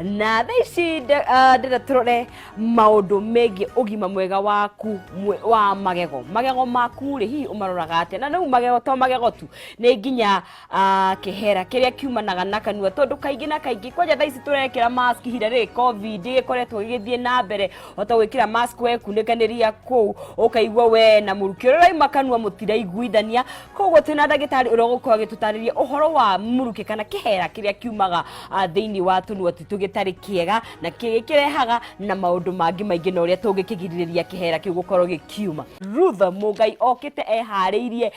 na tha ici ndĩra tũrore maũndũ megiĩ ũgima mwega waku mwe- wa magego magego maku rĩ hihi ũmaroraga atĩa na rĩu magego to magego tu nĩ nginya Ah, kĩhera kĩrĩa kiumanaga na kanua tondũ kaingĩ na kaingĩ kwanja thaa ici tũrekĩra mask ihinda rĩrĩ covid gĩkoretwo gĩgĩthiĩ na mbere ota gwĩkĩra mask wekunĩkanĩria kũu ũkaigua we na mũrukĩ ũrĩa ũraima kanua mũtiraiguithania koguo twĩ na ndagĩtarĩ ũrĩa ũgũkorwo agĩtũtarĩria ũhoro wa mũrukĩ kana kĩhera kĩrĩa kiumaga ah, thĩinĩ wa tũnua twitũ gĩtarĩ kĩega na kĩrĩa kĩrehaga na maũndũ mangĩ maingĩ na ũrĩa tũngĩkĩgirĩrĩria kĩhera kĩu gũkorwo gĩkiuma Ruth Mũgai okĩte eharĩirie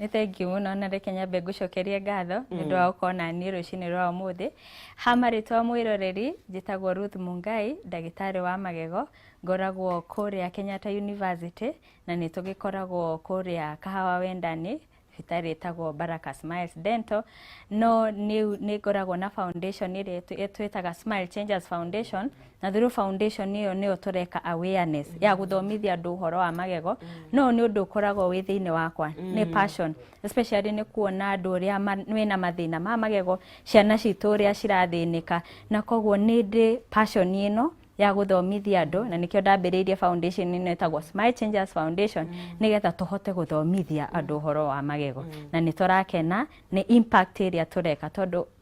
Nĩ thengiũ mũno na reke nyambe ngũcokerie ngatho nĩ ũndũ wa gũkorwo na niĩ rũcinĩ rwa ũmũthĩ. Ha marĩtwa mwĩroreri, njĩtagwo Ruth Mungai, ndagĩtarĩ wa magego, ngoragwo kũrĩa Kenyatta University na nĩ tũgĩkoragwo kũrĩa Kahawa Wendani, thibitarĩ ĩtagwo Baraka Smiles Dental. No nĩ ngoragwo na foundation ĩrĩa twĩtaga Smile Changers Foundation na through foundation ĩyo nĩyo tũreka awareness mm. ya gũthomithia andũ ũhoro wa magego mm. no nĩ ũndũ ũkoragwo wĩ thĩinĩ wakwa mm. nĩ passion especially nĩ kuona andũ ũrĩa mena mathĩna ma magego ciana citũ ũrĩa cirathĩnĩka na koguo nĩ ndĩ passion ĩno ya gũthomithia andũ na nĩkĩo ndambĩrĩirie foundation ĩno ĩtagwo Smile Changers Foundation mm. nĩgetha tũhote gũthomithia andũ ũhoro wa magego mm. na nĩ tũrakena nĩ impact ĩrĩa tũreka tondũ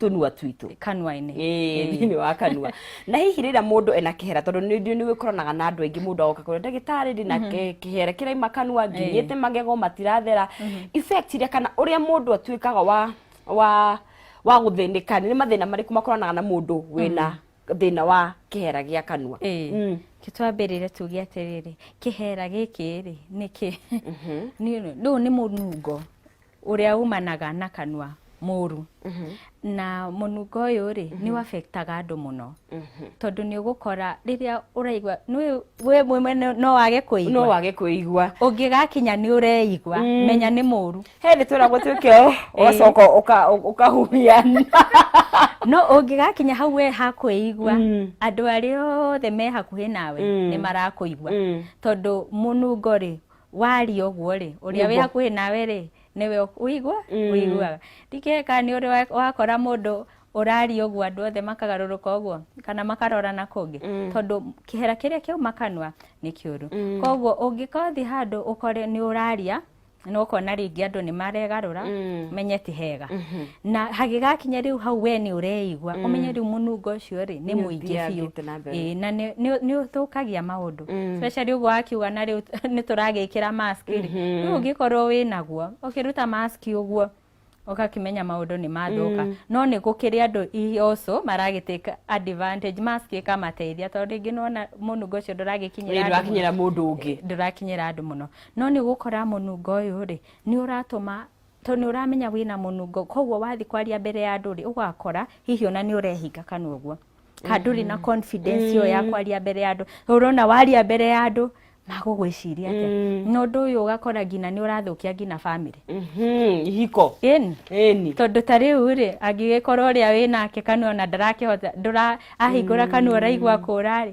tũnua twitũ kanua-inĩ thĩinĩ wa kanua na hihi rĩrĩa mũndũ ena kĩhera tondũ nĩ nĩ gĩkoranaga na andũ aingĩ mũndũ agoka kũrĩa ndagĩtarĩ ndĩ na kĩ- kĩhera kĩraima kanua nginyĩte magego matirathera effect iria kana ũrĩa mũndũ atuĩkaga wa wa wa gũthĩnĩka nĩ mathĩna marĩkũ makoranaga na mũndũ wĩna thĩna wa kĩhera gĩa kanua Ĩĩ. Mm. Kĩ twambĩrĩre tuge atĩrĩrĩ kĩhera gĩkĩ rĩ nĩkĩ nĩ- rĩu nĩ mũnungo ũrĩa umanaga na kanua mũru na mũnungo ũyũ rĩ nĩ wabektaga andũ mũno tondũ nĩ ũgũkora rĩrĩa ũraigua nĩ- we mwene no- no wage no kũigua wage kwĩigua ũngĩgakinya nĩ ũreigua menya nĩ mũru he nĩ twĩragwo twĩke ũgacoka ũka- ũkahuhia no ũngĩgakinya hau we hakwĩigua Mm. andũ arĩa othe me hakuhĩ nawe Mm. nĩ marakũigua Mm. tondũ mũnungo rĩ waria ũguo rĩ ũrĩa wĩ Nĩguo. hakuhĩ nawe rĩ nĩwe ũk- ũigua Mm. ũiguaga ndikeka nĩ ũrĩ wa- wakora mũndũ ũraria ũguo andũ othe makagarũrũka ũguo kana makarorana kũngĩ Mm. tondũ kĩhera kĩrĩa kĩauma kanua nĩ kĩũru Mm. koguo ũngĩkothiĩ handũ ũkore nĩ ũraria na ũkona rĩngĩ andũ nĩ maregarũra Mm. menye ti hega Mhm. na hagĩgakinya rĩu hau we nĩ ũreigua mm. ũmenye rĩu mũnungo ũcio rĩ nĩ mũingĩ biũ na nĩ ũthũkagia maũndũ mm. especially ũguo akiuga na rĩu nĩ tũragĩkĩra mask rĩ mm-hmm. rĩu ũngĩkorwo wĩ naguo ũkĩruta mask ũguo ũgakĩmenya maũndũ nĩ mathũka mm. no nĩ gũkĩrĩ andũ also maragĩtĩka advantage mask ĩkamateithia tondũ rĩngĩ nona mũnungo ũcio ndũragĩkinyĩra mũndũ ũngĩ ndũrakinyĩra andũ mũno no nĩ gũkora mũnungo ũyũ rĩ nĩ ũratũma tondũ nĩ ũramenya wĩna mũnungo koguo wathiĩ kwaria mbere ya andũ rĩ ũgakora hihi ona nĩ ũrehinga kana ũguo kana ndũrĩ na confidence ĩyo ya kwaria mbere ya andũ Rĩu ũrona waria mbere ya andũ magũgwĩciria atĩa na ũndũ ũyũ ũgakora nginya nĩ ũrathũkia nginya family Mhm, ihiko ĩni ĩni tondũ ta rĩu rĩ angĩgĩkorwo ũrĩa wĩ nake kanua ona ndarakĩhota ndũra ahingũra kanua ũraigua kũra rĩ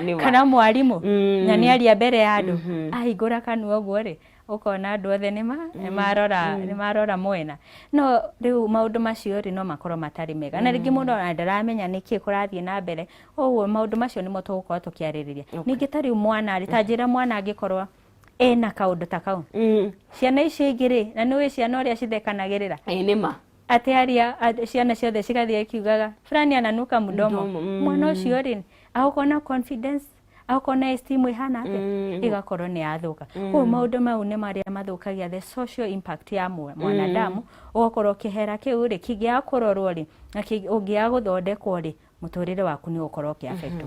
Nĩma. kana mwarimũ Mm. na nĩ aria mbere ya andũ Mhm. ahingũra kanua ũguo rĩ ũkona andũ othe nĩma nĩmarora nĩmarora mwena no rĩu maũndũ macio rĩ no makorwo matarĩ mega na rĩngĩ mũndũ ona ndaramenya nĩkĩ kũrathiĩ na mbere ũguo maũndũ macio nĩmo tũgũkorwo tũkĩarĩrĩria ningĩ ta rĩu mwana rĩ ta njĩra mwana angĩkorwo ena kaũndũ ta kau Mm. ciana icio ingĩ rĩ na nĩ ũĩ ciana ũrĩa cithekanagĩrĩra Ĩ, nĩma atĩ aria a- ciana ciothe cigathiĩ ikiugaga fulani ananuka mdomo Mdomo, mm. mwana ũcio rĩ agokorwo na confidence agokorwo na esteem ĩhana atĩa Mm. ĩgakorwo nĩ yathũka koguo maũndũ mau nĩ marĩa mathũkagia the social impact ya mwa- mwanadamu ũgakorwo kĩhera kĩu rĩ kĩngĩaga kũrorwo rĩ na kĩngĩ- ũngĩaga gũthondekwo rĩ mũtũrĩre waku nĩ ũgũkorwo ũkĩafektwo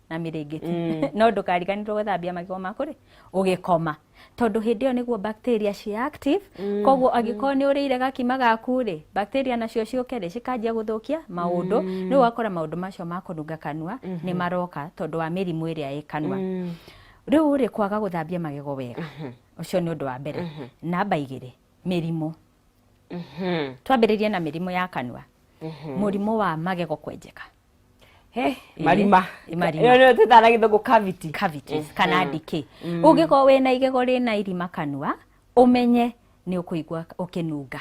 na mĩrĩngĩti mm. no ndũkariganirwo gwĩthambia magego maku rĩ ũgĩkoma tondũ hĩndĩ ĩyo nĩguo bacteria ci active mm. koguo mm. angĩkorwo nĩ ũrĩire gakima gaku rĩ bacteria nacio ciũke rĩ cikanjia gũthũkia maũndũ mm. rĩu wakora maũndũ macio ma kũnunga kanua mm -hmm. nĩ maroka tondũ wa mĩrimũ ĩrĩa ĩ kanua mm. rĩu rĩ kwaga gũthambia magego wega mm-hmm. ũcio nĩ ũndũ wa mbere mm-hmm. namba igĩrĩ mĩrimũ Mhm. twambĩrĩrie na mĩrimũ ya kanua mũrimũ wa magego kwenjeka He, marima Ĩ, marima. Ĩyo nĩyo twĩtaga na gĩthũngũ cavity cavities kana ndikĩ ũngĩkorwo wĩna igego rĩna irima kanua ũmenye nĩ ũkũigua ũkĩnunga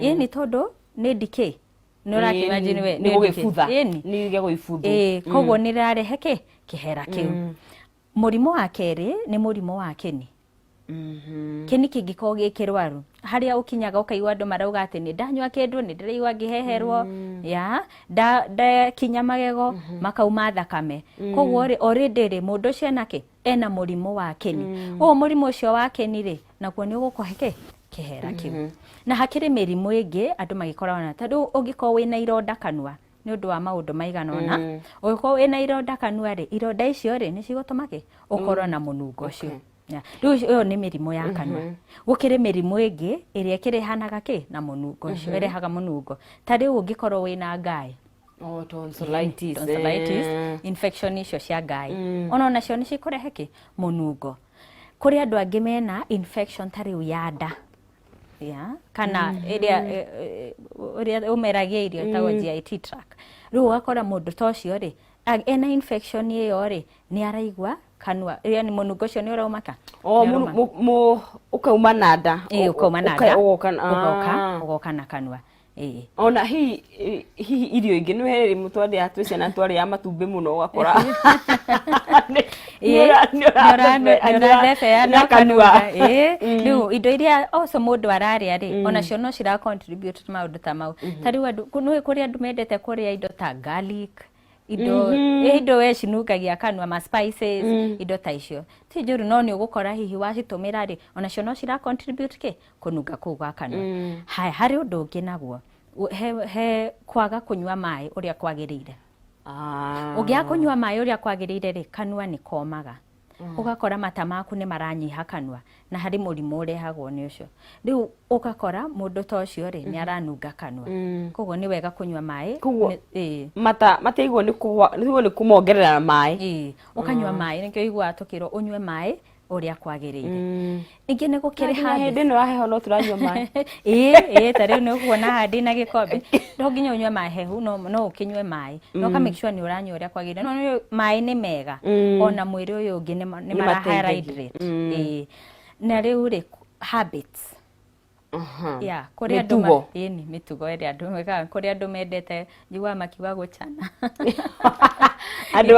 ĩĩ nĩ tondũ nĩ ndikĩ nĩ ũrakĩwa njĩ nĩwe nĩ gũgĩbutha ĩĩ nĩ nĩ igego ibuthu ĩĩ koguo nĩ rĩrarehe kĩ kĩhera kĩu Mũrimũ wa kerĩ nĩ mũrimũ wa kĩni. Kĩni kĩngĩkorwo gĩ kĩrwaru, harĩa ũkinyaga ũkaigua andũ marauga atĩ nĩ ndanyua kĩndũ, nĩ ndĩraigua ngĩheherwo, ya, nda- ndakinya magego, makauma thakame. Koguo rĩ, already rĩ, mũndũ ũcio ena kĩ? Ena mũrimũ wa kĩni. Ũguo mũrimũ ũcio wa kĩni rĩ, naguo nĩ ũgũkũhe kĩ? Kĩhera kĩu. Na hakĩrĩ mĩrimũ ĩngĩ andũ magĩkoragwo nayo. Ta rĩu ũngĩkorwo wĩna ironda kanua, nĩ ũndũ wa maũndũ maigana ũna mm. ũngĩkorwo wĩna ironda kanua rĩ ironda icio rĩ nĩ cigũtũma kĩ ũkorwo mm. na mũnungo ũcio okay rĩu ĩyo nĩ mĩrimũ ya kanua mhm. gũkĩrĩ mĩrimũ ĩngĩ ĩrĩa ĩkĩrehanaga kĩ na mũnungo ũcio mhm. ĩrehaga mũnungo ta rĩu ũngĩkorwo wĩna ngaĩ Oh, tonsillitis. tonsillitis eh. infection icio cia ngaĩ mm. ona onacio nĩ cikũrehe kĩ mũnungo kũrĩ andũ angĩ mena infection ta rĩu ya nda yeah, kana ĩrĩa ĩ- ĩ- ũrĩa ũmeragia irio ĩtagwo GIT tract rĩu ũgakora mũndũ ta ũcio rĩ a- ena infection ĩyo rĩ nĩ araigua kanua ĩrĩa nĩ mũnungo ũcio nĩ ũraumaka o Nĩ mũnu- ũrauma. mu- mu- ũkauma na nda Ĩĩ, ũkauma na Ũka- nda ũgoka na- ũgoka Ah. ũgoka na kanua Eh. ona hihi eh, hihi irio ingĩ nĩ wee rĩmũ twandĩa twĩ ciana twarĩa matumbĩ mũno ũgakora Ĩĩ, nĩũrane- nĩũrathebea na ũkanuga. Ĩĩ, rĩu indo iria oco mũndũ ararĩa rĩ onacio no cira contribute maũndũ ta mau ta rĩu andũ kũ- nĩ kũrĩ andũ mendete kũrĩa indo ta garlic indo ĩ, indo we cinungagia kanua ma spices indo ta icio ti njũru no nĩ ũgũkora hihi wacitũmĩra rĩ onacio no cira contribute kĩ kũnunga kũu gwa kanua mm. haya harĩ ũndũ ũngĩ naguo he, he kwaga kũnyua maĩ ũrĩa kwagĩrĩire ah. ũngĩaga kũnyua maĩ ũrĩa kwagĩrĩire rĩ kanua nĩ komaga mm. ũgakora mata maku nĩ maranyiha kanua na harĩ mũrimũ ũrehagwo nĩ ũcio rĩu ũgakora mũndũ ta ũcio rĩ nĩ mm-hmm. aranunga kanua mm. koguo nĩ wega kũnyua maĩ mata mataigwo nĩ kumongerera maĩ ũkanyua mm. maĩ nĩkĩo iguaga tũkĩrwo ũnyue maĩ ũrĩa kwagĩrĩire ningĩ nĩ gũkĩrĩ handũ hĩndĩ ĩno ya heho no tũranyua maĩ ĩĩ ĩĩ ta rĩu nĩ ũkuona haha ndĩ na gĩkombe no nginya ũnyue maĩ hehu no no ũkĩnyue maĩ no ka make sure nĩ ũranyua ũrĩa kwagĩrĩire no nĩ- maĩ nĩ mega ona mwĩrĩ ũyũ ũngĩ nĩ ma- nĩ Nĩ mara mateithagia. hydrate ĩĩ na rĩu rĩ habits mĩtugo ĩni mĩtugo ĩrĩa andũ mekaga kũrĩ andũ mendete njiguaga makiuga gũcana andũ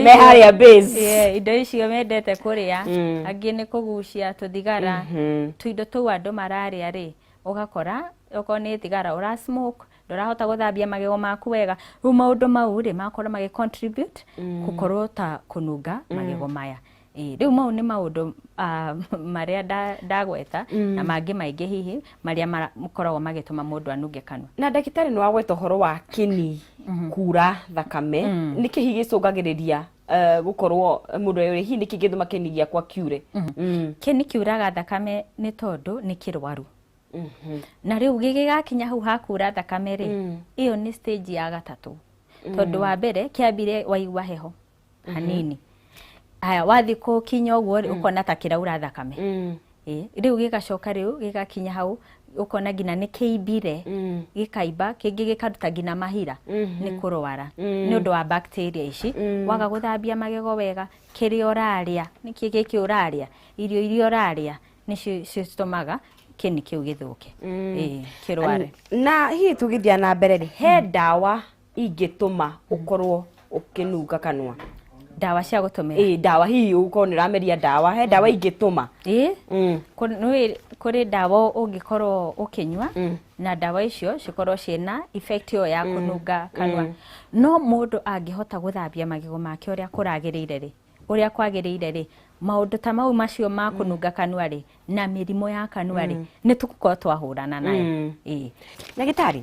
me harĩa base indo icio mendete kũrĩa mm. angĩ nĩ kũgucia tũthigara mm-hmm. tũindo tũu andũ mararĩa rĩ ũgakora okorwo nĩ thigara ũra smoke ndorahota guthambia magego maku wega riu maundu mau ri makorwo magi contribute mm. gukorwo ta kununga mm. magego maya Ĩĩ, rĩu mau nĩ maũndũ ah, marĩa nda- ndagweta na mangĩ maingĩ hihi marĩa makoragwo magĩtũma mũndũ anunge kanua na ndagĩtarĩ nĩ wagweta ũhoro wa kĩni kuura thakame nĩ kĩhi gĩcũngagĩrĩria eh, gũkorwo mũndũ e hihi nĩ kĩngĩtũma kĩni gĩakwa kiure Mm. kĩni kiuraga thakame nĩ tondũ nĩ kĩrwaru Mhm. na rĩu gĩgĩgakinya hau hakura thakame rĩ ĩyo nĩ stage ya gatatũ tondũ wa mbere kĩambire waigua heho hanini haya wathi kukinya uguo ri ukona ta kiraura thakame Mm. Eh, riu gigacoka riu gigakinya hau ukona nginya ni kiimbire Mm. gikaimba kingi gikaruta nginya mahira Mhm. ni kurwara Mm. ni undu wa bacteria ici Mm. waga guthambia magego wega kiria uraria niki giki uraria irio iria uraria nicio citumaga kini kiu githuke Mm. eh kirware na hihi tugithia na mbere rĩ he ndawa ingĩtũma ũkorwo ũkĩnunga kanua ndawa cia gũtũmĩra ĩĩ ndawa hihi ũkorwo nĩ ũrameria ndawa he ndawa ingĩtũma ĩĩ Mm. kũ- nĩ- kũrĩ ndawa ũngĩkorwo ũkĩnyua Mm. na ndawa icio cikorwo ciĩna effect ĩyo ya kũnunga kanua no mũndũ angĩhota gũthambia magego make ũrĩa kũragĩrĩire rĩ ũrĩa kwagĩrĩire rĩ maũndũ ta mau macio ma kũnunga kanua rĩ na mĩrimũ ya kanua rĩ nĩ tũkorwo twahũrana nayo Mm. ĩĩ ndagĩtarĩ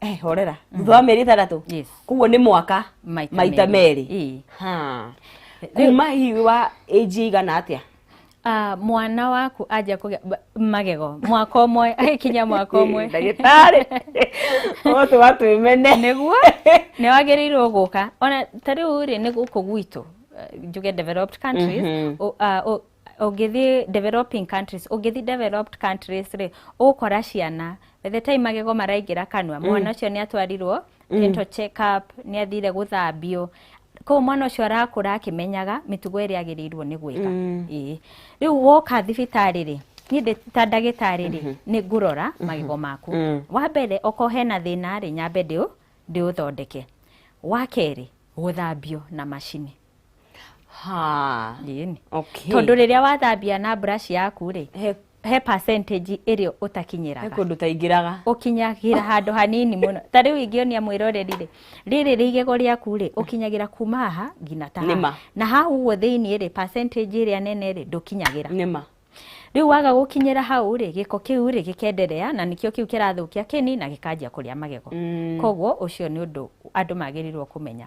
eh horera mm. thutha wa mĩeri ĩtandatũ koguo nĩ mwaka maita merĩ kuma hihi wa age igana atĩa uh, mwana waku anja kugia magego mwaka umwe agikinya mwaka umwe ndagitari otu watu imene niguo ni wagirirwo guka ona ta riu ri ni guku gwitu eh, njuge developed countries mm -hmm. uh, uh, ũngĩthiĩ developing countries ũngĩthiĩ developed countries rĩ ũgũkora ciana by the time magego maraingĩra kanua mwana ũcio nĩ atwarirwo dental check up nĩ athire gũthambio koguo mwana ũcio arakũra akĩmenyaga mĩtugo ĩrĩa agĩrĩirwo nĩ gwĩka Ĩĩ. rĩu woka thibitarĩ rĩ niĩ ndĩ ta ndagĩtarĩ rĩ nĩ ngũrora magego maku wa mbere okorwo hena thĩna rĩ nyambe ndĩũ- ndĩũthondeke wa kerĩ gũthambio na macini Ha. Ĩĩ nĩ. Okay. Tondũ rĩrĩa wathambia na brush yaku rĩ, He, he percentage ĩrĩa he ũtakinyĩraga. kũndũ taingĩraga. Ũkinyagĩra handũ hanini mũno. Ta rĩu ingĩonia mwĩroreri rĩ, rĩrĩ rĩ igego rĩaku rĩ, ũkinyagĩra kuma haha nginya ta Nĩ ma. haha. Na hau ũguo thĩiniĩ rĩ, percentage ĩrĩa nene rĩ, ndũkinyagĩra. Nĩ ma. Rĩu waga gũkinyĩra hau rĩ, gĩko kĩu rĩ, gĩkenderea na nĩkĩo kĩu kĩrathũkia kĩni na gĩkanjia kũrĩa magego. Mm. Koguo ũcio nĩ ũndũ andũ magĩrĩirwo kũmenya.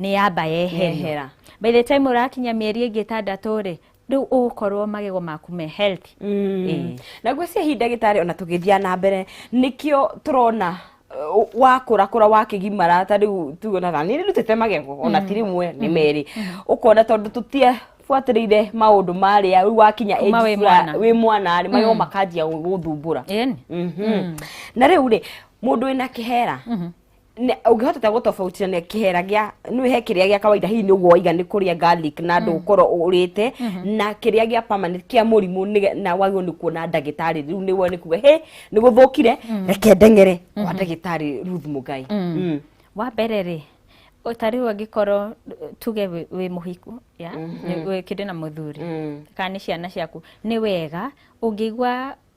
nĩ yamba yeherio Yehera. by the time ũrakinya mĩeri ĩngĩ ĩtandatũ rĩ rĩu ũgũkorwo magego maku me healthy Ĩĩ. na ngwĩciria hihi ndagĩtarĩ ona tũgĩthiĩ na mbere nĩkĩo tũrona uh, wakũra kũra wakĩgimara ta rĩu tuonaga nĩ ndutĩte magego ona ti rĩmwe nĩ merĩ ũkona tondũ tũtie buatĩrĩire maũndũ marĩa rĩu wakinya Kuma age wĩ fulani- mwana. wĩ mwana rĩ magego makanjia gũthumbũra Ĩni. Mhm. na rĩu rĩ mũndũ wĩna kĩhera Ne- ũngĩhota ta gũtobautithania kĩhera gĩa nĩ he kĩrĩa gĩa kawaida hihi nĩguo waiga nĩ kũrĩa garlic na andũ ũkorwo ũrĩte na kĩrĩa gĩa permanent kĩa mũrimũ nĩge- na wagĩrĩirwo nĩ kuona ndagĩtarĩ rĩu nĩ wone kuga he nĩ gũthũkire reke ndeng'ere kwa ndagĩtarĩ Ruth Mugai Mm. wa mbere rĩ o ta rĩu angĩkorwo eh, tuge wĩ- wĩ mũhiku ya nĩ- wĩkĩte na mũthuri Mm. kana nĩ ciana ciaku nĩ wega ũngĩigua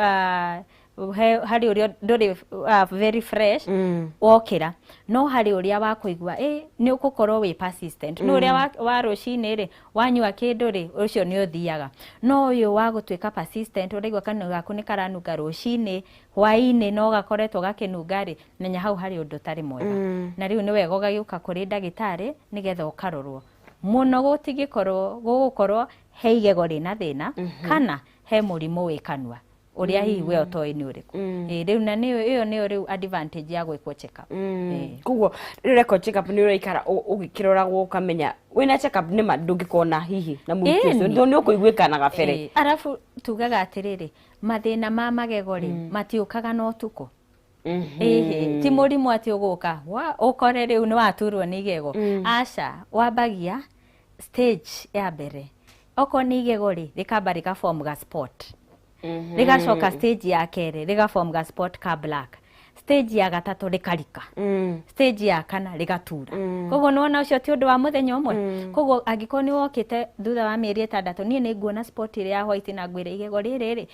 ah, he- harĩ ũrĩa ndũrĩ ah, very fresh Mm. wokĩra no harĩ ũrĩa wa kũigua ĩ nĩ ũgũkorwo wĩ persistent nĩ ũrĩa wa- wa rũcinĩ rĩ wanyua kĩndũ rĩ ũcio nĩ ũthiaga no ũyũ wa gũtuĩka persistent ũraigua kanua gaku nĩ karanunga rũcinĩ hwainĩ no gakoretwo gakĩnunga rĩ menya hau harĩ ũndũ ũtarĩ mwega Mm. na rĩu nĩ wega ũgagĩũka kũrĩ ndagĩtarĩ nĩgetha ũkarorwo mũno gũtingĩkorwo gũgũkorwo he igego rĩna thĩna kana he mũrimũ wĩ kanua ũrĩa hihi we ũtoĩ nĩ ũrĩkũ Ĩĩ, rĩu na nĩyo ĩyo nĩyo rĩu advantage ya gwĩkwo check up Ĩĩ. koguo rĩu record check up nĩ ũraikara ũ- ũgĩkĩroragwo ũkamenya wĩna check up nĩ ma ndũngĩkorwo na hihi na mũrimũ Ĩĩ, ũcio nĩ. tondũ nĩ ũkũiguĩka na gabere Ĩĩ, arabu tugaga atĩrĩrĩ mathĩna ma magego rĩ matiũkaga na ũtukũ Ĩhĩ, ti mũrimũ atĩ ũgũka wa- ũkore rĩu nĩ waturwo nĩ igego aca wambagia stage ya mbere okorwo nĩ igego rĩ rĩkamba rĩka form ga spot rĩgacoka stage ya kerĩ rĩga form ga spot ka black stage ya gatatũ rĩkarika stage ya kana rĩgatura koguo nĩwona ũcio ti ũndũ wa mũthenya ũmwe koguo angĩkorwo nĩ wokĩte thutha wa mĩeri ĩtandatũ niĩ nĩ nguona spot ĩrĩa ya white na ngwĩre igego rĩrĩ rĩ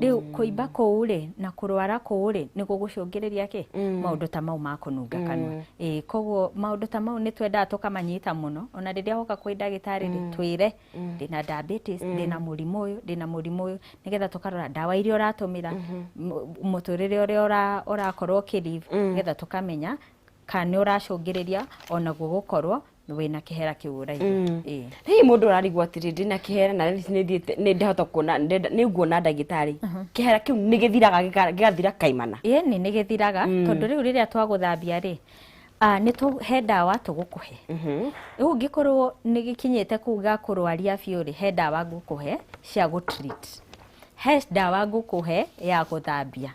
rĩu kũimba kũu rĩ na kũrwara kũu rĩ nĩ gũgũcũngĩrĩria kĩ mm. maũndũ ta mau ma kũnunga mm. kanua ĩĩ koguo maũndũ ta mau nĩ twendaga tũkamanyita mũno ona rĩrĩa woka kwĩ ndagĩtarĩ rĩ mm. twĩre mm. ndĩna diabetes mm. ndĩna mũrimũ ũyũ ndĩna mũrimũ ũyũ nĩgetha tũkarora ndawa iria ũratũmĩra mm-hmm. mũtũrĩre ũrĩa ũrakorwo ũkĩlive mm. nĩgetha tũkamenya kana nĩ ũracũngĩrĩria onaguo gũkorwo wĩna kĩhera kĩu ũraiga mm. hihi mũndũ ũrarigwo atĩrĩ ndĩna kĩhera na nĩthiĩte nĩndahota kuona nĩnguona ndagĩtarĩ uh-huh. kĩhera kĩu nĩgĩthiraga gĩgathira kaimana ĩni nĩgĩthiraga mm. tondũ rĩu rĩrĩa twagũthambia rĩ Ah, nä tå he ndawa tå gå kå he rä mhm. u ngä korwo nä gä kinyä te kå u ga kå rwaria biå rä he ndawa ngå kå he cia gå he ndawa ngå kå he ya gå thambia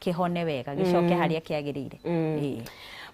kĩhone wega gĩcoke harĩa kĩagĩrĩire Ĩĩ.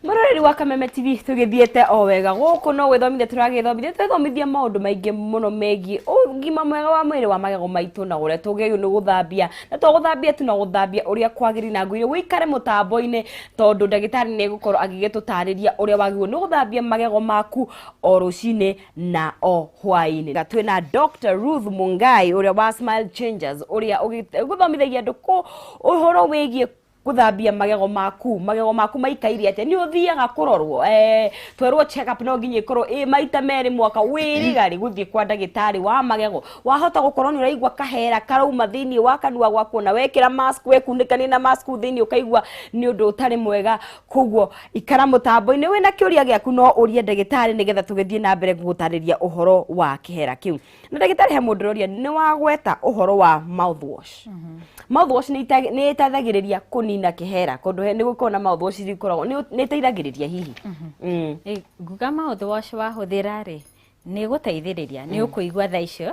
Mũroreri wa Kameme TV tũgĩthiĩte o wega gũkũ no gwĩthomithia tũragĩthomithia twĩthomithia maũndũ maingĩ mũno megiĩ ũgima mwega wa mwĩrĩ wa magego maitũ na ũrĩa tũgĩrĩirwo nĩ gũthambia na to gũthambia tu na gũthambia ũrĩa kwagĩrĩire na ngũire wĩikare mũtambo-inĩ tondũ ndagĩtarĩ nĩ egũkorwo agĩgĩtũtarĩria ũrĩa wagĩrĩirwo nĩ gũthambia magego maku o rũcinĩ na o hwainĩ na twĩ na Dr. Ruth Mungai ũrĩa wa Smile Changers ũrĩa ũgĩ- ũgũthomithagia andũ kũ- ũhoro wĩgiĩ gũthambia magego maku magego maku maikaire atĩa nĩ ũthiaga kũrorwo eh, twerwo check up no nginya ĩkorwo ĩ maita merĩ mwaka wĩriga rĩ gũthiĩ kwa ndagĩtarĩ wa magego wahota gũkorwo nĩ ũraigua kahera karauma thĩinĩ wa kanua gwaku na wekĩra mask wekunĩkanie na mask kũu thĩinĩ ũkaigua nĩ ũndũ ũtarĩ mwega koguo ikara mũtambo-inĩ wĩna kĩũria gĩaku no ũrie ndagĩtarĩ nĩgetha tũgĩthiĩ na mbere gũgũtarĩria ũhoro wa kĩhera kĩu na ndagĩtarĩ he mũndũ ũroria nĩ wagweta ũhoro wa mouthwash mouthwash nĩ ita- nĩ ĩteithagĩrĩria kũnina kĩhera kũndũ he- nĩ gũkoragwo na mouthwash iria ikoragwo nĩ nĩ ĩteithagĩrĩria hihi Mm. Ĩ, nguga maũthwash wahũthĩra rĩ nĩ gũteithĩrĩria nĩ ũkũigua tha icio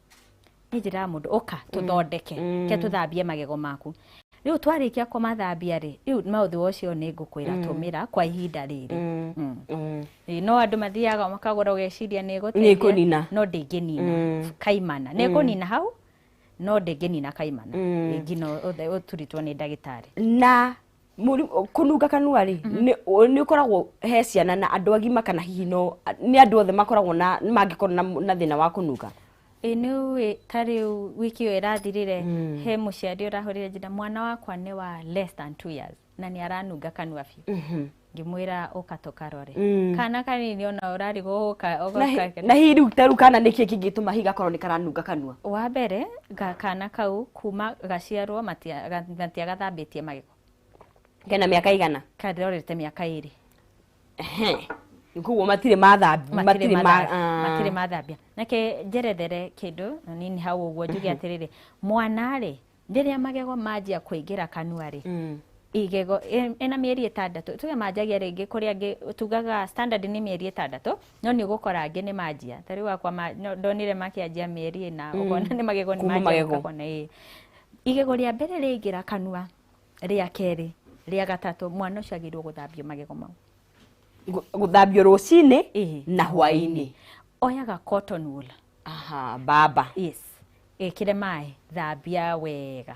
nĩ njĩra ya mũndũ ũka tũthondeke mm. ke tũthambie magego maku rĩu twarĩkia kũmathambia rĩ rĩu maũthĩ ũcio nĩ ngũkwĩra mm. tũmĩra kwa ihinda rĩrĩ mm. Mm. mm. no andũ mathiaga makagũra ũgeciria nĩ ĩgũteithia no ndĩngĩnina mm. kaimana nĩ ĩkũnina mm. hau no ndĩngĩnina kaimana mm. ĩngina ũturitwo nĩ ndagĩtarĩ na kũnunga kanua rĩ mhm. nĩ ũkoragwo he ciana na andũ agima kana hihi no nĩ andũ othe makoragwo na mangĩkorwo na thĩna wa kũnunga ä nä wä ta rä u wiki ä yo ä rathirä re mm. he må ciari å rahå rä re njä mwana wakwa nä wa less than two years na nä aranunga kanua biå mhm. ngimwira uka tukarore mm. kana kanini ona urari guka na hi riu taru kana niki kingituma higakorwo ni karanunga kanua wa mbere kana kau Kuma gaciarwo matia- ga- matiagathambĩtie magego kena mĩaka igana karorete mĩaka ĩrĩ Ehe. koguo matirĩ mathambi matirĩ matirĩ ma- matha- ah. matirĩ mathambia nake njerethere kĩndũ na nini hau ũguo njuge atĩrĩrĩ mwana rĩ rĩrĩa magego manjia kũingĩra kanua rĩ Mm. igego ĩ- ĩna mĩeri ĩtandatũ tuge manjagia rĩngĩ kũrĩa angĩ tugaga standard nĩ mĩeri ĩtandatũ no nĩ ũgũkora angĩ nĩ manjia ta rĩu akwa ma- no- ndonire makĩanjia mĩeri ĩna ũkona nĩ magego nĩ Kuma manjia magego. ũkakona ĩĩ igego rĩa mbere rĩaingĩra kanua rĩa kerĩ rĩa gatatũ mwana ũcio agĩrĩirwo gũthambio magego mau Gu- gũthambio rũcinĩ Ĩhĩ. na hwainĩ oyaga cotton wool aha baba yes ĩkĩre maĩ thambia wega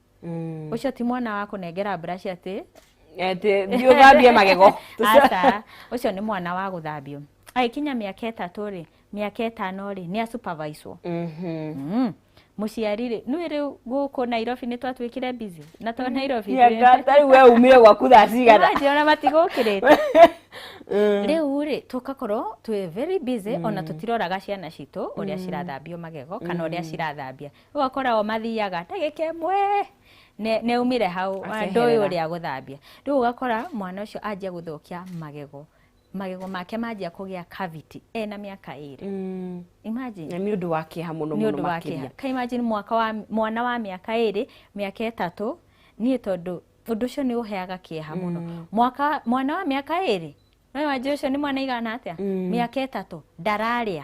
Mm. ucio ti mwana wa kunengera brush ati ati thiä å thambie magego aca ucio ni mwana wa guthambio agĩkinya mĩaka ĩtatũ rĩ mĩaka ĩtano rĩ nĩ asuperviswo Mhm. Mm. mũciari rĩ nĩ rĩu gũkũ nairobi nĩ twatuĩkire busy na to nairobi Tia ngata, rĩu we umire gwaku thaa cigana Imagine, ona matigũkĩrĩte Mm. rĩu rĩ tũkakorwo twĩ very busy ona tũtiroraga ciana citũ ũrĩa cirathambio magego kana ũrĩa cirathambia ũgakora o mathiaga ndagĩka ĩmwe ne- neumire hau Akeherera. ndoĩ ũrĩa gũthambia rĩu ũgakora mwana ũcio anjia gũthũkia magego magego make manjia kũgĩa cavity ena mĩaka ĩrĩ Mm. imagine na nĩ ũndũ wa kĩeha mũno nĩ mũno ũndũ wa kĩeha makĩria ka imagine mwaka wa mwana wa mĩaka ĩrĩ mĩaka ĩtatũ niĩ tondũ ũndũ ũcio nĩ ũheaga kĩeha mũno mwaka mwana wa mĩaka ĩrĩ no wanjĩ ũcio nĩ mwana igana atĩa mĩaka ĩtatũ ndararĩa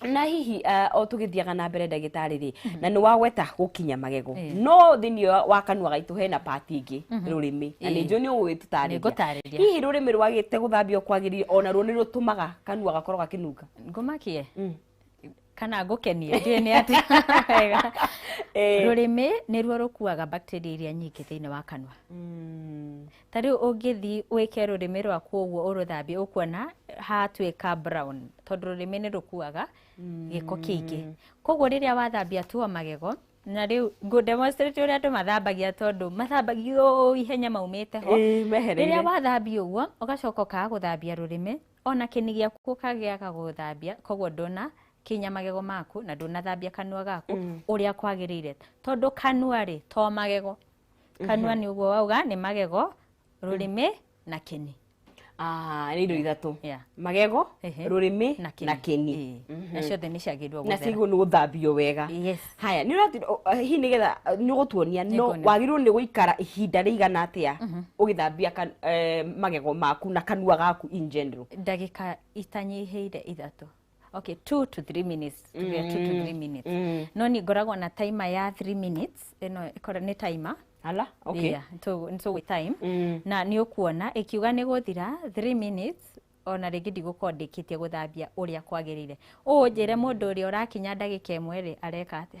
na hihi uh, o tũgĩthiaga na mbere ndagĩtarĩ rĩ mm -hmm. na nĩ wagweta gũkinya magego yeah. no thĩinĩ wa kanua gaitũ hena pati ingĩ mm -hmm. rũrĩmĩ na nĩ njũ nĩ ũgũgĩtũtarĩria hihi rũrĩmĩ rwagĩte gũthambio kwagĩrire ona ruo nĩ rũtũmaga kanua gakorwo gakĩnunga ngũmakie mm kana ngũkenie ndiä nä atä wega eh. rå rä mä nä ruo rå kuaga bacteria iria nyingä thä inä wa kanua mm. Ta rĩu ũngĩthiĩ wĩke rũrĩmĩ rwaku ũguo ũrũthambie ũkuona hatuĩka brown tondũ rũrĩmĩ nĩ rũkuaga gĩko kĩingĩ koguo rĩrĩa wathambia tu o magego na rĩu ngũ demonstrate ũrĩa andũ mathambagia tondũ mathambagia ũũ ihenya maumĩte ho Ĩĩ, mehereire. rĩrĩa wathambia ũguo ũgacoka ũkaga gũthambia rũrĩmĩ ona kĩni gĩaku ũkagĩaga gũthambia koguo ndũna kinya magego maku na ndũnathambia kanua gaku ũrĩa kwagĩrĩire tondũ kanua rĩ to magego kanua nĩ ũguo wauga nĩ magego rũrĩmĩ na kĩni Ah, nĩ indo ithatũ Yeah. magego Ehe. rũrĩmĩ na kĩni na kĩni Ĩĩ. na ciothe nĩ ciagĩrĩirwo na gũthera ciagwo nĩ gũthambio wega Yes. haya nä å hihi nä getha nä gå tuonia no Nĩnguonia. wagä rä rwo nĩ gå ikara ihinda rä igana atä a å gä thambia kan- eh, magego maku na kanua gaku in general ndagĩka itanyihĩire ithatũ okay two to three minutes tuge two to three minutes Mm. no ni ngoragwo na timer ya three minutes ĩno ĩkorwo nĩ timer Ala, okay. Yeah, nĩtũ- nĩtũgwĩ time Mm. na nĩ ũkuona ĩkiuga nĩ gũthira 3 minutes ona rĩngĩ ndigũkorwo ndĩkĩtie gũthambia ũrĩa kwagĩrĩire ũũ njĩre mũndũ ũrĩa ũrakinya ndagĩka ĩmwe rĩ areka atĩa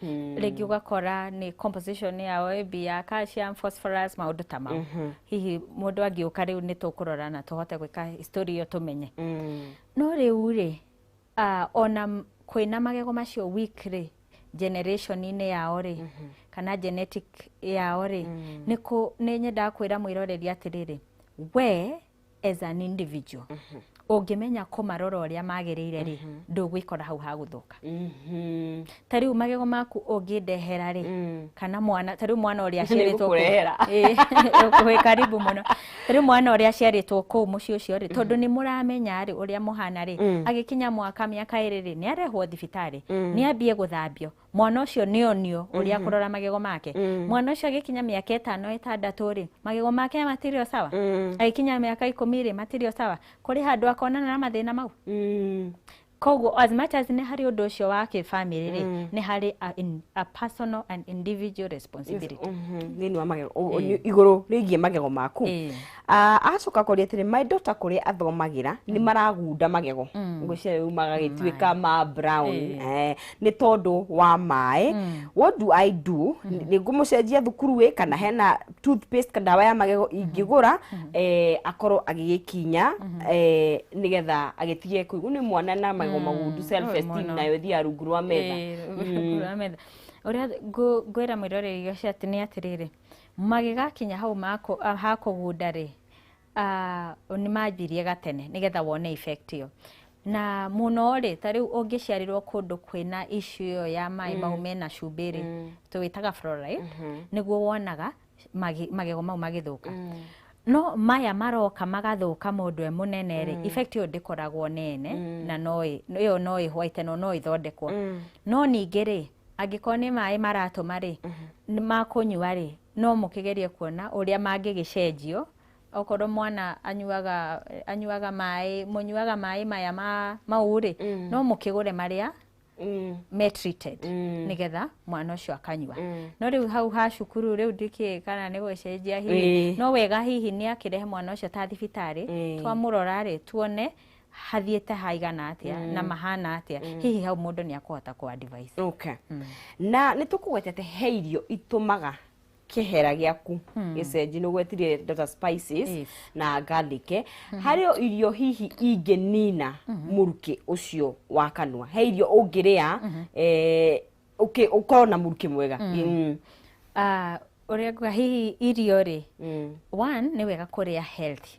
Hmm. rĩngĩ ũgakora nĩ composition ya OAB ya calcium, phosphorus, maũndũ ta mau mhm. hihi mũndũ angĩũka rĩu nĩ tũkũrora na tũhote gwĩka story iyo tũmenye hmm. no rĩu rĩ ah, ona kwĩna magego macio week rĩ generation-inĩ yao rĩ mhm. kana genetic yao rĩ hmm. nĩ nyendaga kwĩra mwĩroreri atĩrĩrĩ we as an individual ũngĩmenya kũmarora ũrĩa magĩrĩire rĩ ndũgwĩkora hau ha gũthũka Mhm. ta rĩu magego maku ũngĩndehera rĩ Mm. kana mwana ta rĩu mwana ũrĩa aciarĩtwo kũu- Nĩngũkũrehera. Ĩĩ, wĩ karibu mũno ta rĩu mwana ũrĩa aciarĩtwo kũu mũciĩ ũcio rĩ tondũ nĩ mũramenya rĩ ũrĩa mũhana rĩ Mm. agĩkinya mwaka mĩaka ĩrĩ rĩ nĩ arehwo thibitarĩ Mm. nĩ ambie gũthambio mwana ũcio nĩ onio ũrĩa mhm. kũrora magego make mm. mwana ũcio agĩkinya mĩaka ĩtano ĩtandatũ rĩ magego make matirĩ o sawa mm. agĩkinya mĩaka ikũmi rĩ matirĩ o sawa kũrĩ handũ akonana na mathĩna mau mm. koguo as much as nĩ harĩ ũndũ ũcio wa kĩbamĩrĩ rĩ mm. nĩ harĩ a, in, a personal and individual responsibility mm-hmm. thĩinĩ wa magego eh. igũrũ rĩgiĩ magego maku eh. Ah, agacoka kwaria atĩrĩ my daughter kũrĩa athomagĩra nĩ maragunda magego ngwĩciria rĩu magagĩtuĩka ma brown Eh, nĩ tondũ wa maĩ what do i do nĩ ngũmũcenjia thukuru ĩ kana hena toothpaste ka ndawa ya magego ingĩgũra eh, akorwo agĩgĩkinya eh, nĩgetha agĩtige kũigua nĩ mwana na magego magundu self esteem mũno. nayo ĩthiaga rungu rwa metha Eh, kura metha. ũrĩa ngũ- ngwĩra mwĩroreri ũcio atĩ nĩ atĩrĩrĩ Magĩgakinya hau ha kũgunda-rĩ, nĩ manjirie gatene nĩgetha wone effect ĩyo. Na mũno-rĩ, ta rĩu ũngĩciarĩrwo kũndũ kwĩna issue ĩyo ya maĩ mau mm. mena cumbĩ-rĩ, mm. tũwĩtaga fluoride, mm-hmm. nĩguo wonaga magego mau magĩthũka. Mm. No maya maroka magathũka mũndũ e mũnene-rĩ, effect ĩyo ndĩkoragwo nene na ĩyo no ĩhwaite no no ĩthondekwo. No ningĩ-rĩ, angĩkorwo nĩ maĩ maratũma rĩ nĩ makũnyua rĩ no mũkĩgerie kuona ũrĩa mangĩgĩcenjio okorwo mwana anyuaga anyuaga maĩ mũnyuaga maĩ maya ma mau rĩ no mũkĩgũre marĩa Mm. me treated Mm. nĩgetha mwana ũcio akanyua Mm. no rĩu hau ha cukuru rĩu ndikĩĩ kana nĩ gũcenjia hihi Ĩĩ. no wega hihi nĩ akĩrehe mwana ũcio ta thibitarĩ Ĩĩ. twamũrora rĩ tuone hathiĩte haigana atĩa na mahana atĩa hihi hau mũndũ nĩ akũhota kũ advise okay. na nĩ tũkũgwetete he irio itũmaga kĩhera gĩaku gĩcenji nĩ ũgwetire indo ta spices Yes. na garlic harĩ o irio hihi ingĩnina mũrukĩ ũcio wa kanua he irio ũngĩrĩa eh, ũkĩ- ũkorwo na mũrukĩ mwega Mm. Ah, ũrĩa nguga hihi irio rĩ Mm. one nĩ wega kũrĩa healthy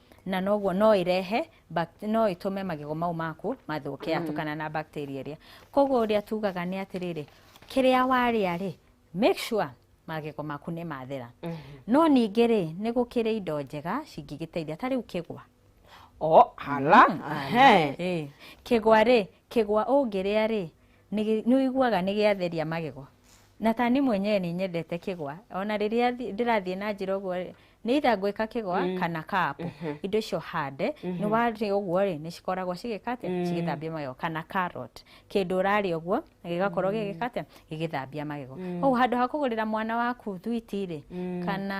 na noguo no ĩrehe bac- no ĩtũme magego mau maku mathũke atukana na bacteria ĩrĩa koguo ũrĩa tugaga nĩ atĩrĩrĩ kĩrĩa warĩa rĩ make sure magego maku nĩ mathera no ningĩ rĩ nĩ gũkĩrĩ indo njega cingĩgĩteithia ta rĩu kĩgwa o hala ehe. Ĩĩ. kĩgwa rĩ kĩgwa ũngĩrĩa rĩ nĩ nĩ ũiguaga nĩ gĩatheria magego na ta niĩ mwenyewe nĩ nyendete kĩgwa ona rĩrĩa thi- ndĩrathiĩ na njĩra ũguo rĩ, nĩ itha ngwĩka kĩgwa mm. kana kapu mm -hmm. indo icio hande mm -hmm. nĩ warĩ ũguo rĩ nĩ cikoragwo cigĩka atĩa mm. cigĩthambia magego kana carrot kĩndũ ũrarĩ ũguo gĩgakorwo mm. gĩgĩka atĩa gĩgĩthambia magego mm. koguo handũ ha kũgũrĩra mwana waku thwiti rĩ mm. kana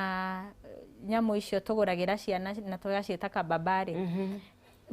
nyamũ icio tũgũragĩra ciana na tũgaciĩta kababari mm -hmm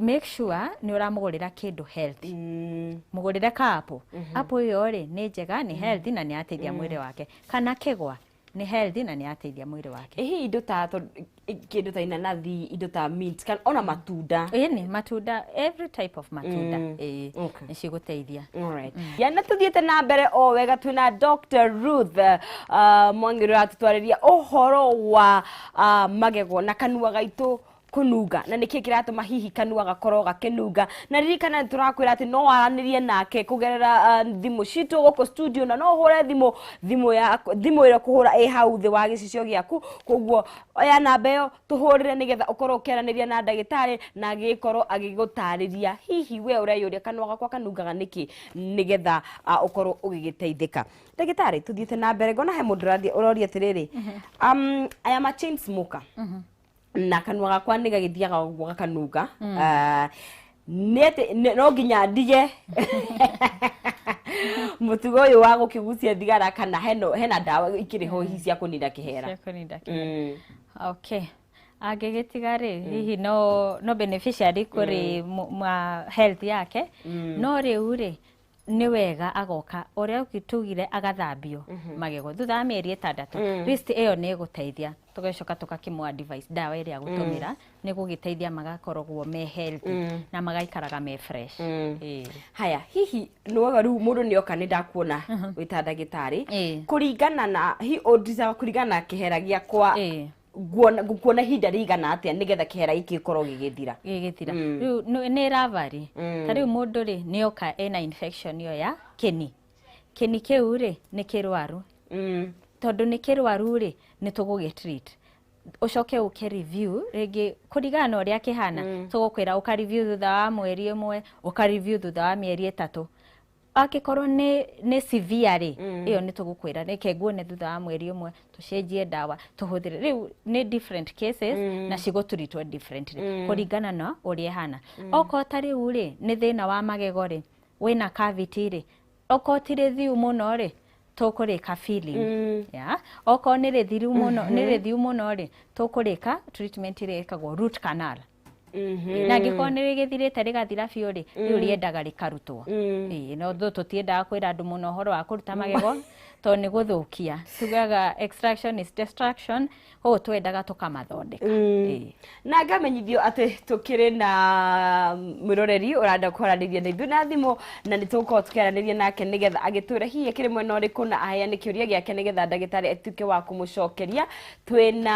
make sure nä å ramå gå rä ra kä ndå mm. må gå rä re kaapå mm-hmm. apå ä yo rä nä njega nä mm. healthy na nä ateithia mm. mwä rä wake kana kä gwa nĩ healthy na nĩ yateithia mwĩrĩ wake ĩhi indo ta to- i- kĩndũ ta inanathi indo ta mint kana ona matunda ĩni matunda every type of matunda Mm. ĩĩ Okay. nĩ cigũteithia Alright. ya na tuthiĩte na mbere o wega twĩ na dr ruth uh, mwangĩrĩ ratũtwarĩria ũhoro wa uh, magego na kanua gaitũ kũnunga na nĩkĩ kĩratũma hihi kanua gakorwo gakĩnunga na ririkana nĩ tũrakwĩra atĩ no waranĩrie nake kũgerera ah, thimũ citũ gũkũ studio na no ũhũre thimũ thimũ ya thimũ ĩrĩa kũhũra ĩ hau thĩ wa gĩcicio gĩaku koguo oya namba ĩyo tũhũrĩre nĩgetha ũkorwo ũkĩaranĩria na ndagĩtarĩ na agĩkorwo agĩgũtarĩria hihi we ũreyũria kanua gakwa kanungaga nĩkĩ nĩgetha ah, ũkorwo ũgĩgĩteithĩka ndagĩtarĩ tũthiĩte na mbere ngona he mũndũ ũrathiĩ- ũroria atĩrĩrĩ um, aya ma chain smoker na kanua gakwa nä gagäthiaga å guo gakanunga Ah, nĩ atĩ- nĩ- no nginya ndige må tugo å yå wa gå kä gucia thigara kana heno- hena ndawa ikä rä ho hihi cia kå nina kä hera Ciakũninda kĩ- Mm. okay angĩgĩtiga rĩ hihi no no beneficiary kũrĩ mu- ma health yake no rĩu rĩ nĩ wega agoka ũrĩa tugire agathambio mhm. magego thutha wa mĩeri ĩtandatũ mm. list ĩyo nĩ ĩgũteithia tũgacoka tũgakĩmũ advice ndawa ĩrĩa mm. gũtũmĩra nĩ gũgĩteithia magakoragwo me healthy mm. na magaikaraga me fresh haya hihi nĩwaga rĩu mũndũ nĩ oka nĩ ndakuona mhm. wĩta ndagĩtarĩ kũringana na kũringana na kĩhera gĩakwa nguona ngukuona ihinda rĩigana atĩa nĩgetha kĩhera gĩkĩ gĩkorwo gĩgĩthira gĩgĩthira Mm. rĩu nĩ- nĩ rava rĩ Mm. ta rĩu mũndũ rĩ nĩ oka ena infection ĩyo ya kĩni kĩni kĩu rĩ nĩ kĩrwaru Mm. tondũ nĩ kĩrwaru rĩ nĩ tũgũgĩ treat ũcoke ũke review rĩngĩ kũringana na ũrĩa kĩhana tũgũkwĩra ũka review thutha wa mweri ĩmwe ũka review thutha wa mĩeri ĩtatũ angĩkorwo nĩ nĩ severe rĩ Mm. ĩyo nĩ tũgũkwĩra reke nguone thutha wa mweri ũmwe tũcenjie ndawa tũhũthĩre rĩu nĩ different cases Mm. na cigũtũritwo differently Mm. kũringana na ũrĩa ĩhana okorwo ta rĩu rĩ nĩ thĩna wa magego rĩ wĩna cavity rĩ okorwo ti rĩthiu mũno rĩ tũkũrĩka filling Mm. ya okorwo nĩ rĩthiru mũno nĩ rĩthiu mũno rĩ tũkũrĩka treatment ĩrĩa ĩkagwo root canal na angĩkorwo nĩ rĩgĩthirĩte rĩgathira biũ rĩ rĩu rĩendaga rĩkarutwo Ĩĩ, no thũ tũtiendaga kwĩra andũ mũno ũhoro wa kũruta magego to nĩ gũthũkia tugaga extraction is destruction ũũ twendaga tũkamathondeka Ĩĩ. na ngamenyithio atĩ tũkĩrĩ na mwĩroreri ũranda kwaranĩria na ithuĩ na thimũ na nĩ tũgũkorwo tũkĩaranĩria nake nĩgetha agĩtwĩra hihi akĩrĩ mwena ũrĩkũ na aheane kĩũria gĩake nĩgetha ndagĩtarĩ atuĩke wa kũmũcokeria twĩna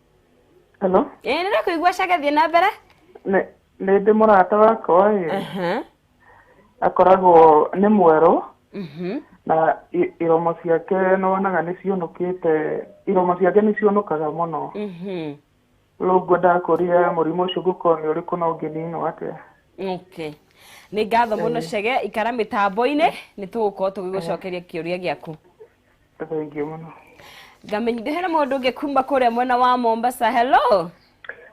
Hello? ĩĩ nĩ ndakũigua cage thiĩ na mbere Nĩ nĩ ndĩ mũrata wakwa ĩ, Aha. akoragwo nĩ mwerũ Mhm. na i- iromo ciake nĩ wonaga nĩ ciũnũkĩte, iromo ciake nĩ ciũnũkaga mũno. Mhm. Rĩu ngwendaga kũria mũrimũ ũcio ũngĩkorwo nĩ ũrĩkũ na ũngĩninwo atĩa. Okay. nĩ ngatho mũno cege ikara mĩtambo-inĩ nĩ tũgũkorwo tũgĩgũcokeria kĩũria gĩaku thengiũ mũno ngamenya ndĩhere mũndũ ũngĩ kuma kũrĩa mwena wa mombasa hello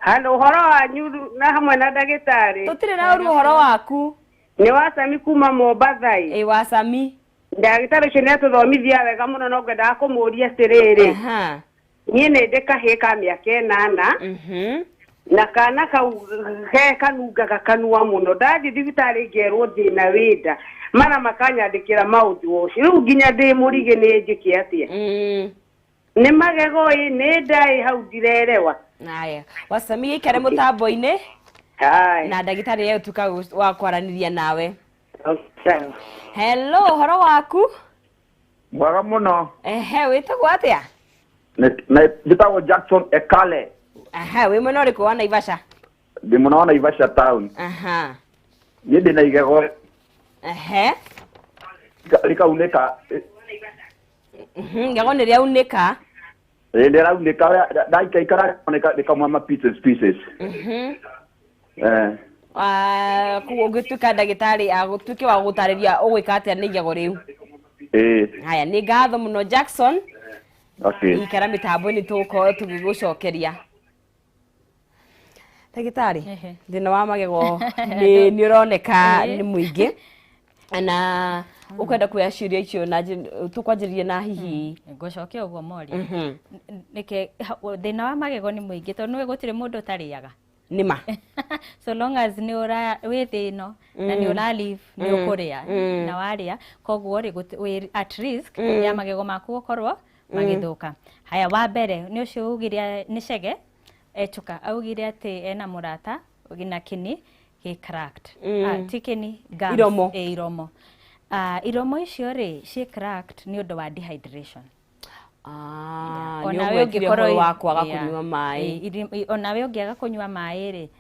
handå å horo wanyu na hamwe na ndagä tarä tũtirĩ na ũru ũhoro waku nä wacami kuma mombathai ĩ wacami ndagä tarä å cio nä atå thomithia wega må no no ngwendaga kå må ria atä rä rä Aha. niĩ nĩ ndĩ kahĩĩ ka mĩaka ĩnana Mhm. na kana kau ge kanungaga kanua mũno ndathiĩ thibitarĩ ngerwo ndĩna wĩnda mana makanyandĩkĩra maũndũ ũcio rĩu nginya ndĩ mũrigĩ nĩ njĩke atĩa Mm. nĩ magego ĩ nĩ nda ĩ hau ndirerewa haya wacamia ikare mũtambo-inĩ Hai. na ndagĩtarĩ ye ũtuka wa kwaranĩria nawe Okay. hello ũhoro waku mwega mũno ehe wĩtagwo atĩa Nĩ- na- njĩtagwo jackson ekale aha wĩ mwena ũrĩkũ wa naivasha ndĩ mũna wa naivasha town aha niĩ ndĩ na igego ehe rĩkaunĩka ngego nĩ rĩaunĩka Eh, nä rau nä ka ndaikaikara nä kamwa ma pieces pieces Mhm. eh Ah, koguo ũngĩtuĩka ndagĩtarĩ agũtuĩke wa gũtarĩria ũgwĩka atĩa nĩ igego rĩu eh haya nĩ ngatho mũno jackson okay ikara mĩtambo-inĩ tũgũkorwo tũgĩgũcokeria ndagĩtarĩ Ehe. thĩna wa magego nĩ nĩ ũroneka Ĩĩ. nĩ mũingĩ na ũkwenda kuoya ciũria icio na njĩ- tũkwanjĩrĩrie na hihi ngũcokia ũguo moria Mhm. nĩke thĩna wa magego nĩ mũingĩ tondũ nĩwe gũtirĩ mũndũ ũtarĩaga nĩ ma so long as nĩ ũra wĩ thĩ ĩno na nĩ ũra live nĩ ũkũrĩa na warĩa koguo rĩ gũti- wĩ at risk ya magego maku gũkorwo Mm. magĩthũka haya wa mbere nĩ ũcio augire nĩ cege echuka augire atĩ ena mũrata na kĩni gĩ cracked Mm. Ah, ti kĩni gums, Iromo. eh, iromo Ah, iromo icio rĩ ciĩ cracked nĩ ũndũ wa dehydration Ah, nĩ Onawe ũgwetire ũngĩkorwo ũhoro i- wa kwaga yeah. kũnyua maĩ Eh, iri- i- onawe ũngĩaga kũnyua maĩ rĩ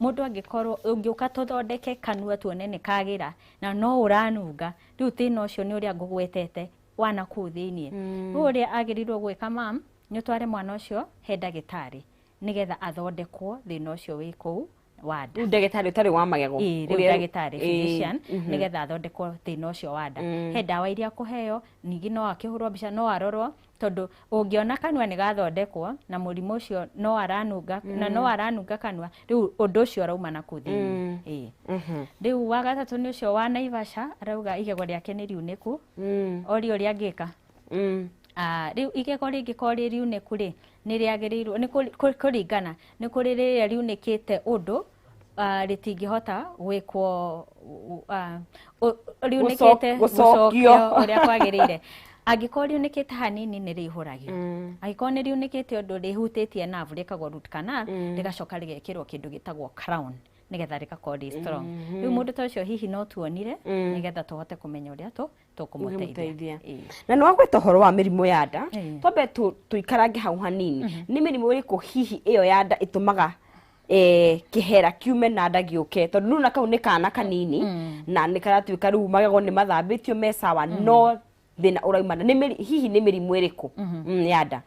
Mũndũ angĩkorwo ũngĩũka tũthondeke kanua tuone nĩ kagĩra na no ũranunga rĩu thĩna ũcio nĩ ũrĩa ngũgwetete wa na kũu thĩinĩ mm. rĩu ũrĩa agĩrĩirwo gwĩka mam nĩ ũtware mwana ũcio he ndagĩtarĩ nĩgetha athondekwo thĩna ũcio wĩ kũu wa nda ndagĩtarĩ ũtarĩ wa magego ĩĩ rĩu ndagĩtarĩ physician mhm. nĩgetha athondekwo thĩna ũcio wa nda mm. he ndawa iria kũheo ningĩ no akĩhũrwo mbica no arorwo Tondũ ũngĩona kanua nĩ gathondekwo na mũrimũ ũcio no aranunga na no aranunga kanua, rĩu ũndũ ũcio ũrauma na kũu thĩinĩ. Ĩĩ. Rĩu wa gatatũ nĩ ũcio wa Naivasha, arauga igego rĩake nĩ riunĩku, orio ũrĩa angĩka. Ah, rĩu igego rĩngĩkorwo rĩ riunĩku-rĩ, nĩ rĩagĩrĩirwo nĩ kũ- kũ- kũringana, nĩ kũrĩ rĩrĩa riunĩkĩte ũndũ ah, rĩtingĩhota gwĩkwo ah, ũ- riunĩkĩte Gũcoc- gũcokio. gũcokio ũrĩa kwagĩrĩire angĩkorwo riunĩkĩte hanini nĩ rĩihũragio Mm. angĩkorwo nĩ riunĩkĩte ũndũ rĩhutĩtie navu rĩkagwo root canal Mm. rĩgacoka rĩgekĩrwo kĩndũ gĩtagwo crown nĩgetha rĩgakorwo rĩ strong rĩu mũndũ ta ũcio hihi no tuonire Mm. nĩgetha tũhote kũmenya ũrĩa tũ tũkũmũteithia na nĩ wagweta ũhoro wa mĩrimũ ya nda twambe tũikarange hau hanini mhm. nĩ mĩrimũ ĩrĩkũ hihi ĩyo ya nda ĩtũmaga eh, kĩhera kiume na nda gĩũke tondũ nuna kau nĩ kana kanini mm. na nĩ karatuĩka rĩu magego nĩ mathambĩtio me sawa mm. no thĩna ũraumana hihi nĩ mĩrimũ ĩrĩkũ mhm. mm, ya nda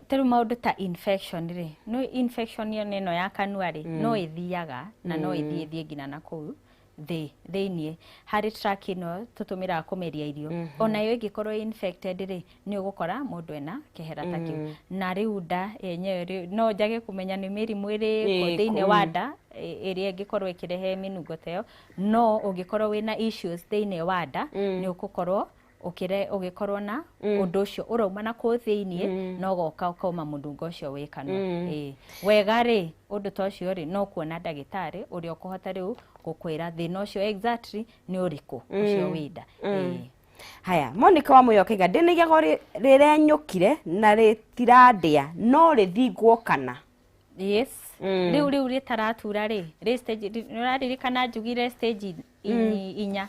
ta rĩu maũndũ ta infection rĩ nĩ infection ĩno ya kanua rĩ mm. no ĩthiaga na no mm. ĩthiĩ thiĩ nginya na kũu thĩ thĩinĩ harĩ track ĩno tũtũmĩraga kũmeria irio mm -hmm. onayo ĩngĩkorwo infected rĩ nĩ ũgũkora mũndũ ena kĩhera ta kĩu mm. na rĩu nda yenyewe rĩ no njage kũmenya nĩ mĩrimũ ĩrĩ thĩinĩ wa nda ĩrĩa ĩngĩkorwo ĩkĩrehe mĩnungo ta ĩyo no ũngĩkorwo wĩna issues thĩinĩ wa nda mm. nĩ ũgũkorwo ũkĩre ũgĩkorwo na ũndũ ũcio ũrauma na kũu thĩinĩ no goka ũkauma mũnungo ũcio wĩ kanua Ĩĩ. wega rĩ ũndũ ta ũcio rĩ no kuona ndagĩtarĩ ũrĩa ũkũhota rĩu gũkwĩra thĩna ũcio exactly nĩ ũrĩkũ ũcio wĩ nda Ĩĩ. haya monika wa mũyokega ndĩnaigago rĩrenyũkire na rĩtirandĩa no rĩthingwo kana yes Mm. rĩu rĩu rĩtaratura rĩ rĩ stage rĩ- nĩũraririkana njugire stage i- inya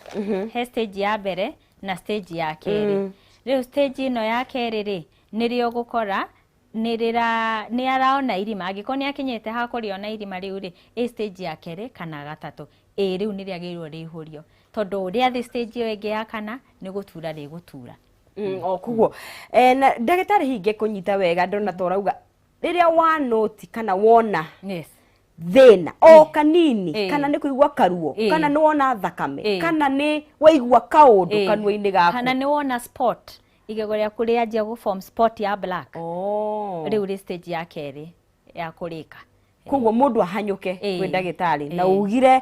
he stage ya mbere na stage ya kerĩ rĩu stage ĩno ya kerĩ rĩ nĩrĩo gũkora nĩrĩra nĩaraona irima angĩkorwo nĩakinyĩte ha kũrĩona irima rĩu rĩ ĩ stage ya kerĩ kana gatatũ ĩ rĩu nĩrĩagĩrĩirwo rĩihũrio tondũ rĩa thĩ stage ĩyo ĩngĩ ya kana nĩ gũtura rĩgũtura Mm, o koguo Eh, na ndagĩtarĩ hinge kũnyita wega ndona ta ũrauga rĩrĩa wanoti kana wona yes thĩna o kanini Eh. kana nĩ kũigua karuo Eh. kana nĩ wona thakame Eh. kana nĩ waigua kaũndũ Eh. kanua-inĩ gaku kana nĩ wona spot igego rĩaku rĩanjia gũ form spot ya black Oh. rĩu rĩ stage ya kerĩ ya kũrĩka koguo mũndũ ahanyũke Eh. kwĩ ndagĩtarĩ na Eh. ugire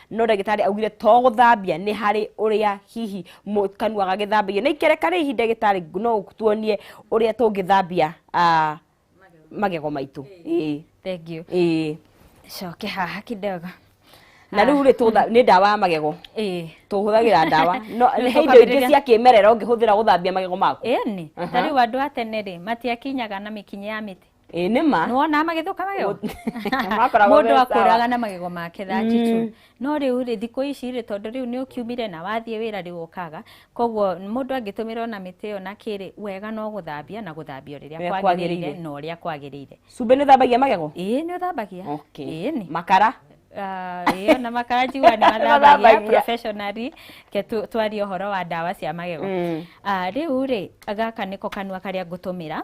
no ndagĩtarĩ augire to gũthambia nĩ harĩ ũrĩa hihi mũ- kanua gagĩthambagio na ikereka rĩ hihi ndagĩtarĩ no ũtuonie ũrĩa tũngĩthambia ah, magego maitũ Ĩĩ, thengiũ ĩĩ. coke haha kidogo na rĩu rĩ tũtha- nĩ ndawa ya magego ĩĩ tũhũthagĩra ndawa no Rĩu he indo ingĩ tũkambĩrĩria- cia kĩmerera ũngĩhũthĩra gũthambia magego maku ĩni ta rĩu andũ a tene rĩ matiakinyaga na mĩkinya ya mĩtĩ ĩ nĩ ma nĩ wonaga magĩthũka magego makoragwo mũndũ me sawa. akũraga na magego make thati tu Mm. no rĩu rĩ thikũ ici rĩ tondũ rĩu nĩ ũkiumire na wathiĩ wĩra rĩu ũkaga koguo mũndũ angĩtũmĩra ona mĩtĩ ĩyo na kĩrĩ wega no gũthambia na gũthambia ũrĩa Ũrĩa kwagĩrĩire kwagĩrĩire. na ũrĩa kwagĩrĩire cumbĩ nĩ ũthambagia magego ĩĩ nĩ ũthambagia okay. ĩĩ nĩ makara Ah, ĩyo na makanjigua nĩ mathambagia Mathambagia. professionally ke tu- twarie ũhoro wa ndawa cia magego Mm. Ah, rĩu rĩ gaka nĩko kanua karĩa ngũtũmĩra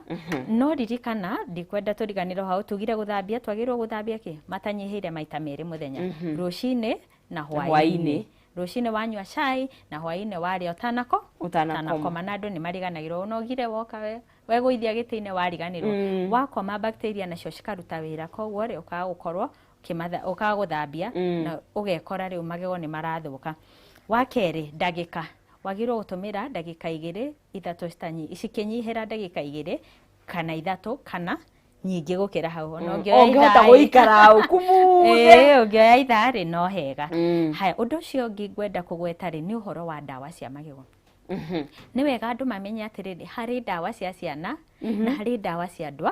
no ririkana ndikwenda tũriganĩrwo hau tugire gũthambia twagĩrĩirwo gũthambia kĩ matanyihĩire maita merĩ mũthenya rũcinĩ na hwainĩ hwaĩ-inĩ. rũcinĩ wanyua cai na hwainĩ warĩa ũtanako Ũtanakoma. ũtanakoma na andũ nĩ mariganagĩrwo ũnogire woka we wegũithia gĩtĩ-inĩ wariganĩrwo Mm. wakoma bacteria nacio cikaruta wĩra koguo rĩ ũkaga gũkorwo kĩmatha ũkaga gũthambia Mm. na ũgekora rĩu magego nĩ marathũka wa kerĩ ndagĩka wagĩrĩirwo gũtũmĩra ndagĩka igĩrĩ ithatũ citanyi- cikĩnyihĩra ndagĩka igĩrĩ kana ithatũ kana nyingĩ gũkĩra hau Ona Mm. ũngĩoya Ũngĩhota ithaa-rĩ- gũikara ũku muthe. Ĩĩ, ũngĩoya ithaa-rĩ no hega Mm. haya ũndũ ũcio ũngĩ ngwenda kũgweta-rĩ nĩ ũhoro wa ndawa cia magego Mhm. nĩ wega andũ mamenye atĩrĩrĩ harĩ ndawa cia ciana na harĩ ndawa cia andũ